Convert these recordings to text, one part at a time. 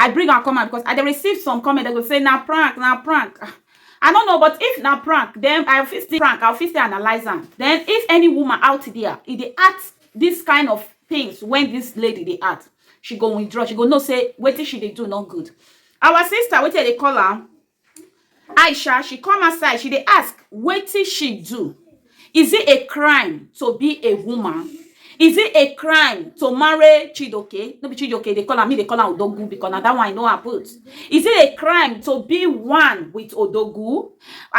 I bring am come out because I dey receive some comment dem go say na prank na prank ah I no know but if na prank then I fit still prank I fit still analyse am then if any woman out there e dey act this kind of things when this lady dey act she go withdraw she go know say wetin she dey do no good our sister wetin dem dey call am Aisha, she come outside, she dey ask wetin she do? Is it a crime to be a woman? Is it a crime to marry Chidoke? No be Chidoke dey call am, me dey call am Odogwu because na that one I know her put. Is it a crime to be one with Odogwu?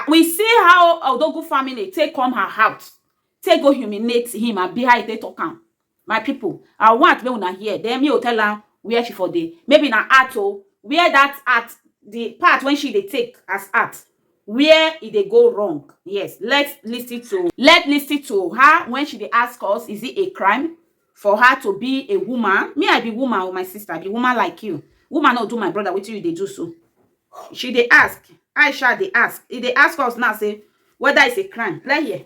We see how Odogwu family take come her house, take go humiliate him, abi how e take talk am. My pipu, I want make una hear den me go tell am where she for dey. Maybe na heart o, where dat heart the part wey she dey take as heart, where e dey go wrong. Yes, let's listen to let's listen to her when she dey ask us, is it a crime for her to be a woman? Me I be woman o my sister, I be woman like you. Woman no go do my brother wetin you dey do so. She dey ask, Aishat dey ask, e dey ask us now say whether it's a crime. Let's hear.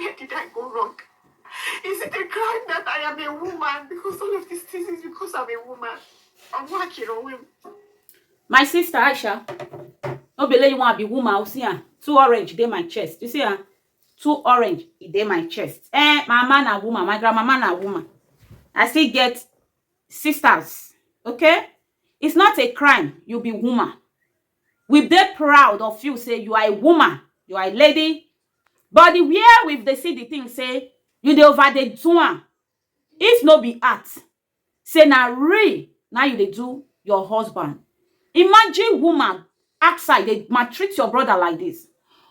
Where did I go wrong? Is it a crime that I am a woman? Because all of these things is because I'm a woman. I'm working on him. My sister Aisha, no be you want to be woman. You see, ah, two orange dey my chest. You see, ah, two orange e dey my chest. Eh, my man a woman, my grandmama na woman. I still get sisters. Okay, it's not a crime. You be woman. We dey proud of you say you are a woman, you are a lady, but the where we dey see the thing say you dey over dey do am. If no be art, say na real na you dey do your husband. Imagine woman outside dey maltreat your brother like this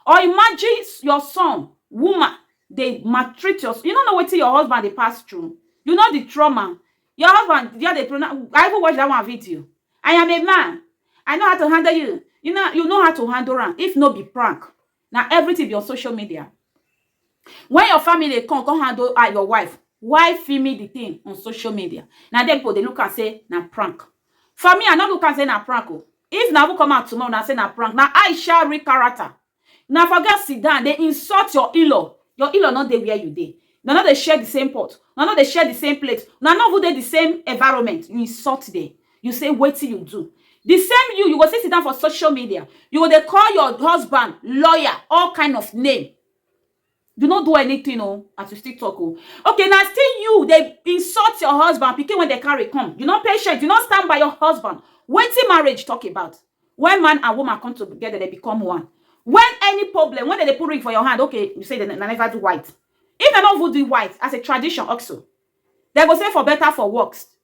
or imagine your son woman dey maltreat your you no know wetin your husband dey pass through, you know the trauma, Your husband just dey pronounce I even watch that one video. I am a man. I know how to handle you. You know you know how to handle am if no be prank. Na everything be on social media. When your family come come handle ah, your wife, why film me the thing on social media? Na dem people dey look and say na prank. For me, I no look and say na prank. Oh. If na who come out tomorrow, na say na prank. Na Aisha real character. Una for go sit down dey insult your in-law, your in-law no dey where you dey, una no dey share the same pot, una no dey share the same plate, una no even dey the same environment, you insult dem, you say wetin you do. The same you, you go still sit down for social media, you go dey call your husband lawyer, all kind of name. you no do anything o as you still talk o okay na still you dey insult your husband pikin wey dey carry come you no patient you no stand by your husband wetin marriage talk about when man and woman come together they become one when any problem when dem dey put ring for your hand okay you say dem na never do white if dem no even do white as a tradition also dem go say for better for works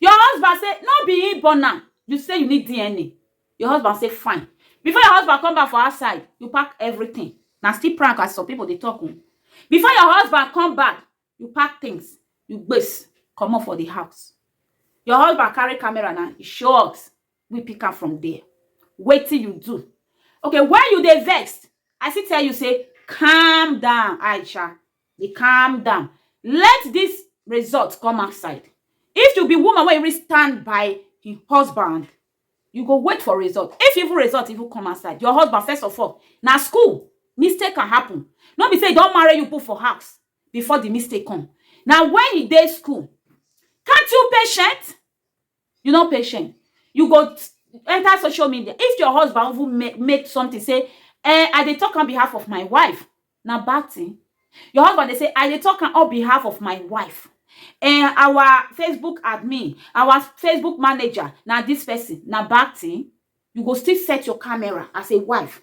Your husband say no be him born am, you say you need DNA, your husband say fine. Before your husband come back for outside, you pack everything. Na still prank as some people dey talk o. Before your husband come back, you pack things, you gbes comot for the house. Your husband carry camera na, he show us, we pick am from there. Wetin you do? Okay, when you dey vex, I still tell you say calm down Aisha, dey calm down let dis result come outside if you be woman wey even stand by hin husband you go wait for result if even result even come outside your husband first of all na school mistake can happen no be sey e don marry you put for house before the mistake come na when e dey school can't you patient you no patient you go enter social media if your husband even make make something say eh i dey talk on behalf of my wife na bad thing your husband dey say i dey talk on behalf of my wife eh our facebook admin our facebook manager na this person na bad thing you go still set your camera as a wife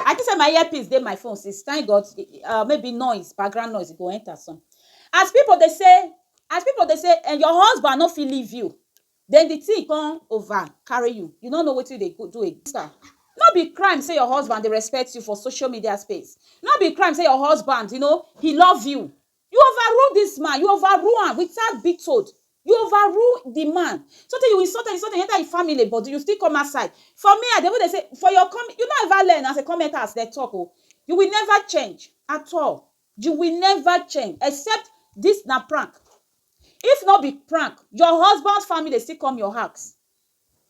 I think say my earpiece dey my phone since thank God uh, maybe noise background noise go enter some as people dey say as people dey say eh, your husband no fit leave you then the thing come over carry you you no know wetin dey go do again no be crime say your husband dey respect you for social media space no be crime say your husband you know he love you You overrule dis man, you overrule am without be told, you overrule di man so tey you insult am, insult am, you enter im family but you still come outside. For me I dey even dey say for your comment, you no ever learn as a commenter as dem talk oo, you will never change at all, you will never change except dis na prank, if no be prank your husband family still come your house.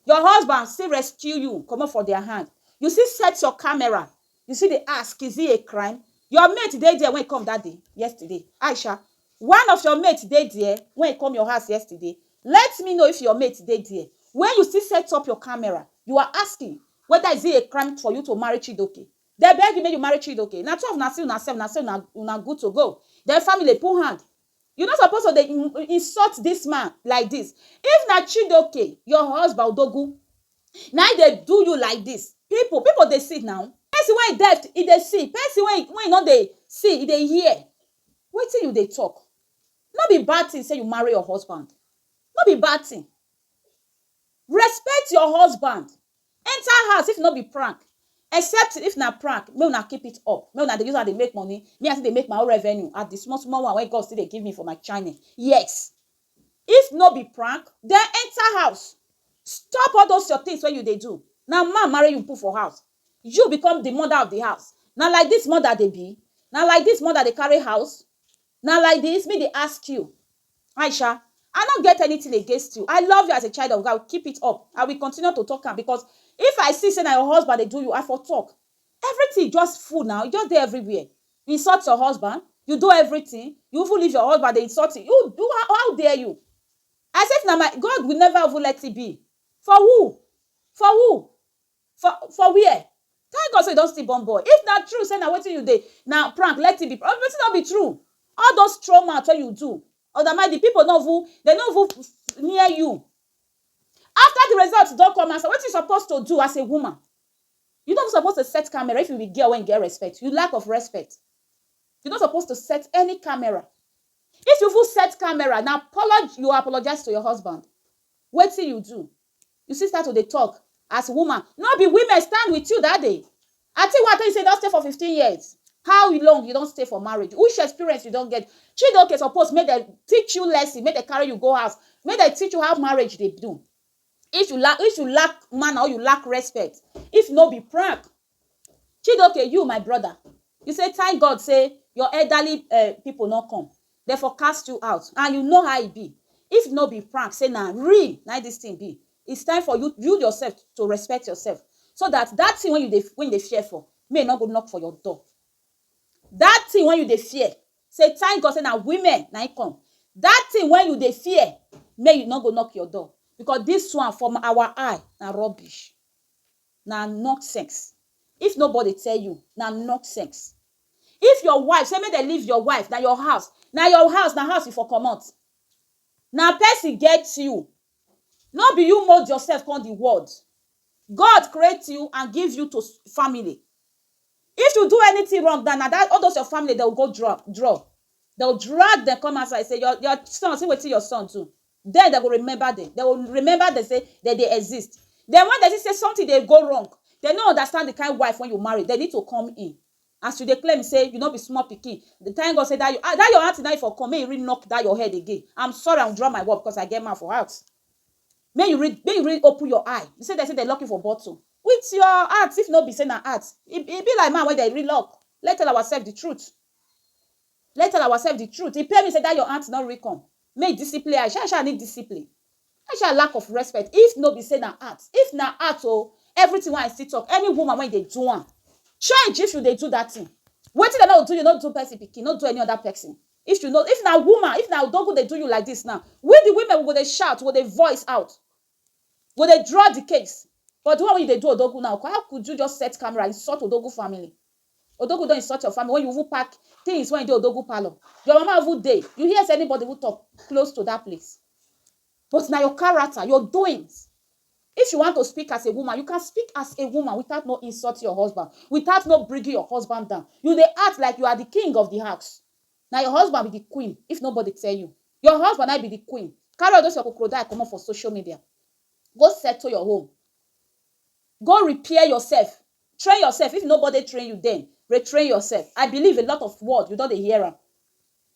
Your husband still rescue you comot for their hand. You still set your camera. You still dey ask, is it a crime? Your mate dey there when e come that day, yesterday. Aisha, one of your mate dey there when e come your house yesterday. Let me know if your mate dey there. When you still set up your camera, you are asking whether is it a crime for you to marry Chidoke. Dem beg you make you marry Chidoke. Na two of una see una self, una say una una good to go. Then family put hand. You no suppose to dey insult this man like this. If na Chidoke, your husband Odogwu, na him dey do you like this, people people dey see now. Person wey deaf, e dey see, person wey e no dey see, e dey hear. Wetin you dey talk? No be bad thing say you marry your husband. No be bad thing. Respect your husband enter house if no be prank except if na prank make una keep it up make una dey use am dey make money me I still dey make my own revenue at the small small one wey God still dey give me for my channel yes if no be prank then enter house stop all those your things wey you dey do na man marry you put for house you become the mother of the house na like this mother dey be na like this mother dey carry house Na like this me dey ask you Aisha I no get anything against you I love you as a child of God keep it up I will continue to talk am because if I see say na your husband dey do you I for talk everything just full now e just dey everywhere you insult your husband you do everything you even leave your husband dey insult him you do how how dare you I say if na my God will never even let it be for who for who For for where? Thank God say you don still born boy. If na true say na wetin you dey na prank let it be prank. Wetin no be true? All those throw mouth wey you do other mind the people no even dem no even near you. After the result don come outside wetin you suppose to do as a woman? You no even suppose to set camera if you be girl wey get respect. You lack of respect. You no suppose to set any camera. If you even set camera na apology you apologize to your husband. Wetin you do? You still start to dey talk as woman. No be women stand with you that day? Ati wa tell you say you don stay for fifteen years, how long you don stay for marriage? Which experience you don get? Chidoke suppose make dem teach you lesson, make dem carry you go house, make dem teach you how marriage dey do. If you lack, if you lack manner or you lack respect, if no be prank, Chidoke you my brother you say thank God say your elderly um people no come dem for cast you out and you know how e be if no be prank say na real na im this thing be it's time for you you yourself to respect yourself so that that thing wey you dey wey you dey fear for make e no go knock for your door that thing wey you dey fear say thank God say na women na im come that thing wey you dey fear make e no go knock your door because this one from our eye na rubbish. na nonsense. If nobody tell you, na nonsense. If your wife say make dem leave your wife, na your house, na your house, na house you for comot. Na person get you, no be you mould yourself come the world. God create you and give you to family. If you do anything wrong now, na that all those your family, they will go draw, draw. They will drag them come outside, say your, your son, see wetin your son do. Den dem go remember dem, dem go remember dem sey dem dey exist. Den wen dem see sey sometin dey go wrong, dem no understand di kain wife wey you marry, dem need to come in. As you dey claim sey you no be small pikin, thank God sey dat your dat your aunty na im for come, make you really knock dat your head again. I'm sorry, I withdraw my word because I get man for house. Make you really make you really open your eye. You sey dem sey dem lock you for bottle, wit your heart, if no be sey na heart, e e be like man wey dem re-lock. Let's tell oursef di truth. Let's tell oursef di truth. E pain me sey dat your aunty no really come. make discipline Aisha, Aisha need discipline Aisha lack of respect if no be say na art if na art o everything wey I see talk any woman wey dey do am change if you dey do that thing wetin dem no do you no do person pikin no do any other person if you no if na woman if na odogu dey do you like this now we the women we go dey shout we go dey voice out we go dey draw the case but the one wey you dey do odogu now how could you just set camera insult odogu family Odogwu don insult your family when you even pack things wey dey Odogwu parlour. Your mama even dey, you hear say anybody even talk close to that place. But na your character, your doings. If you want to speak as a woman, you can speak as a woman without no insult your husband, without no bringing your husband down. You dey act like you are the king of the house. Na your husband be the queen if nobody tell you. Your husband na im be the queen. Carry all those your crocodile comot for social media. Go settle your home. Go repair yourself. Train yourself if nobody train you then retrain yourself I believe a lot of word you don dey hear am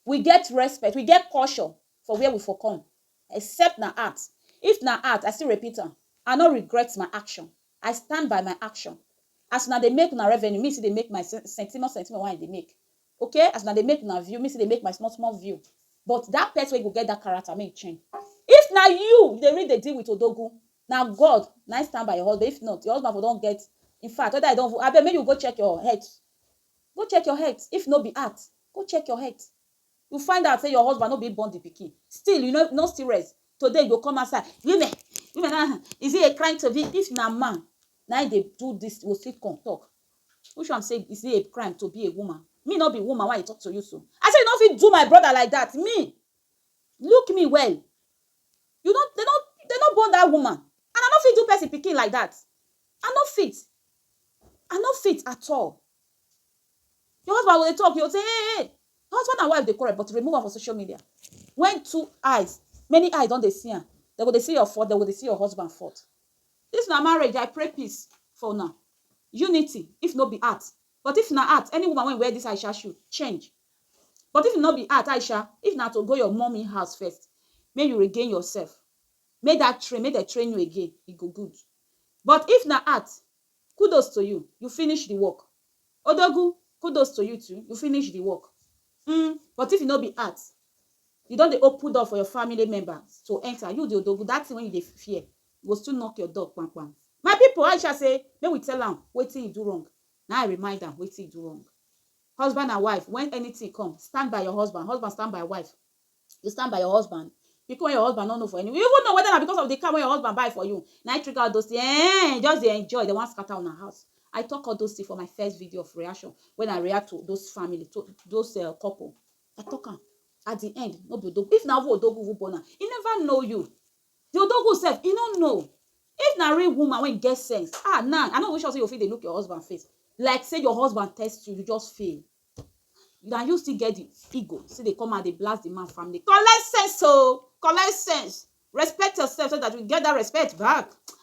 we get respect we get culture for where we for come except na art if na art I still repeat am I no regret my action I stand by my action as una dey make una revenue me still dey make my centimo centimo wey I dey make ok as una dey make una view me still dey make my small small view but that person wey go get that character make him train if na you you dey really dey deal with odogu Na God na im stand by your husband if not your husband for don get in fact whether e don even abeg make you go check your health go check your health if no be heart go check your health you find out say your husband no be im born the pikin still you no no still rest today you go come outside women women na na is it a crime to be if na man na im dey do this you go still come talk which one be say is it a crime to be a woman me no be woman wey i dey talk to you so i say you no fit do my brother like that me Look me well, you no, dem no, dem no born that woman and I no fit do person pikin like that, I no fit, I no fit at all. Your husband go dey talk, you go say hey, hey, husband and wife dey quarrel but remove am for social media. When two eyes, many eyes don dey see am, dem go dey see your fault, dem go dey see your husband fault. This na marriage, I pray peace for una, unity if no be art but if na art, any woman wey wear this Aisha shoe, change. But if e no be art Aisha if na to go your mummy house first make you regain yourself make that train make dem train you again e go good but if na art kudos to you you finish the work Odogwu kudos to you too you finish the work um but if e no be art you don dey open door for your family member to enter you the Odogwu that thing wey you dey fear e go still knock your door kpam kpam My people Aisha say make we tell am wetin e do wrong na im I remind am wetin e do wrong. Husband and wife, when anything come, stand by your husband, husband stand by wife, you stand by your husband, pikin wey your husband no know for anywhere, you even know whether na because of the car wey your husband buy for you na im trigger all those things, eeh, you just dey enjoy, dem wan scatter una house, I talk all those things for my first video of reaction when I react to those family, to those um couple, I talk am, at the end no be odo, if na even odogu even born am, e never know you, The odogwu sef, he no know. If na real woman wey get sense, ah nah, I no even sure say you go fit dey look your husband face like say your husband test you, you just fail. Na you still get the ego still dey come out dey blast the man family. Collect sense o! Collect sense! Respect yourself so that you get that respect back.